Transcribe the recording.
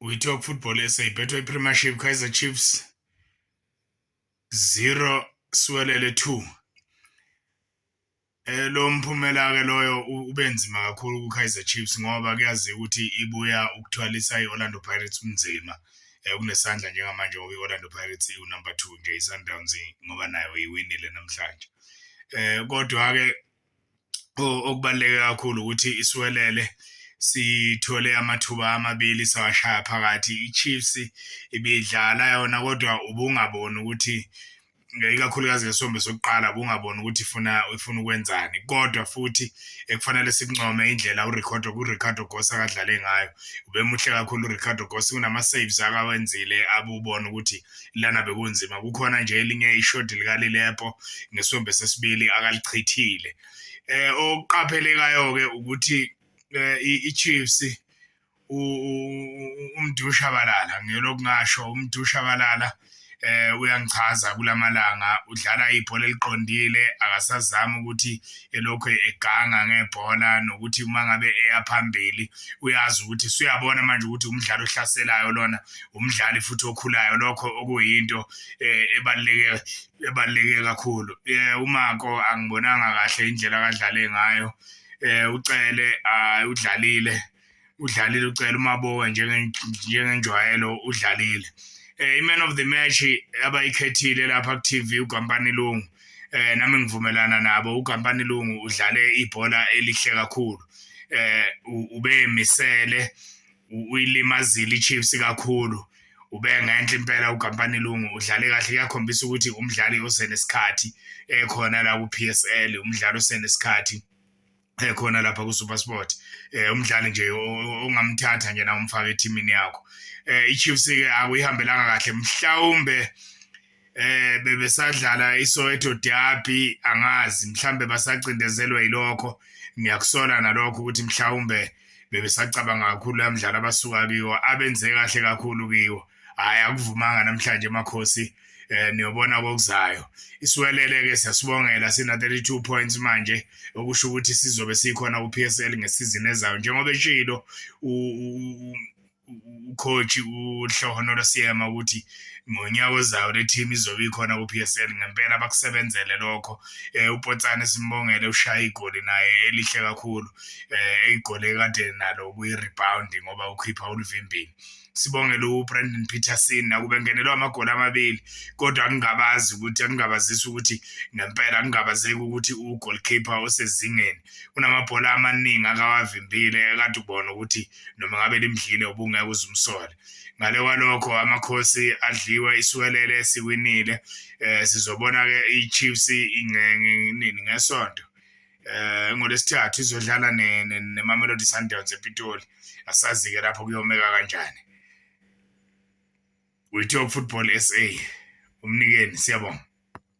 WeTalk Football SA ibhethwa iPremiership Kaizer Chiefs 0 Siwelele 2. Eh lo mphumela ke loyo ubenzima kakhulu kuKaizer Chiefs ngoba kuyaziwa ukuthi ibuya ukuthwalisa iOrlando Pirates umnzima. Eh kunesandla njengamanje ngoba iOrlando Pirates iwu number 2 nje iSundowns ngoba nayo iwinile namhlanje. Eh kodwa ke okubaluleke kakhulu ukuthi isiwelele sithole amathuba amabili sawashaya phakathi iChiefs ibidlala yona kodwa ubungaboni ukuthi ikakhulukazi ngesombe sokuqala ubungaboni ukuthi ifuna ifuna ukwenzani kodwa futhi ekufanele sikuncome indlela uRicardo kuRicardo Goss akadlale ngayo ubemuhle kakhulu uRicardo Goss kunama-saves akawenzile abubona ukuthi lana bekunzima kukhona nje elinye ishodi likalilepo ngesombe sesibili akalichithile eh okuqaphelekayo-ke ukuthi eh, i-chiefs umdushabalala ngiyolokhu ngasho umdushabalala eh uyangichaza kulamalanga udlala ibhola eliqondile akasazami ukuthi elokhu eganga ngebhola nokuthi uma ngabe eya phambili uyazi ukuthi suyabona manje ukuthi umdlali ohlaselayo lona umdlali futhi okhulayo lokho okuyinto eh, ebaluleke ebaluleke kakhulu eh, umako angibonanga kahle indlela akadlale ngayo eh, ucele ah, udlalile udlalile ucela umabowa njengenjwayelo udlalile eh iman of the match abayikhethile lapha ku TV uGampani Lungu eh nami ngivumelana nabo uGampani Lungu udlale ibhola elihle kakhulu eh ubemisele uyilimazile iChiefs kakhulu ubengenhle impela uGampani Lungu udlale kahle kuyakhombisa ukuthi umdlali osenesikhathi ekhona la ku PSL umdlali osenesikhathi eh, khona lapha kuSuperSport eh umdlali nje ongamthatha nje na umfaka ethimini yakho eh iChiefs ke akuyihambelanga kahle mhlawumbe eh bebesadlala iSoweto Derby angazi mhlambe basacindezelwe yilokho ngiyakusola nalokho ukuthi mhlawumbe bebesacabanga kakhulu lamdlalo abasuka kiwo abenze kahle kakhulu kiwo hayi akuvumanga namhlanje emakhosi eh niyobona kokuzayo isiwelele ke siyasibongela sina 32 points manje okusho ukuthi sizobe sikhona ku PSL ngesizini ezayo njengoba eshilo ucoach uhlohono losiyema ukuthi ngonyaka ozayo le team izobe ikhona ku-PSL ngempela bakusebenzele lokho um upotsane simbongele ushaya igoli naye elihle kakhulu um igoli ekade nalo kuyi-rebound ngoba ukhipha ulivimbini sibongele ubrandon peterson nakube ngenelwa amagoli amabili kodwa angingabazi ukuthi angingabazisi ukuthi ngempela angingabazeki ukuthi ugolkeeper osezingeni unamabhola amaningi akawavimbile ekade ubona ukuthi noma ngabe limdlile ubungeke uzumsole ngale kwalokho amakhosi adliwe isiwelele siwinile um sizobona-ke i-chiefs nini ngesonto eh ngolesithathu izodlala neMamelodi Sundowns ePitoli asazi-ke lapho kuyomeka kanjani we talk football sa umnikeni siyabonga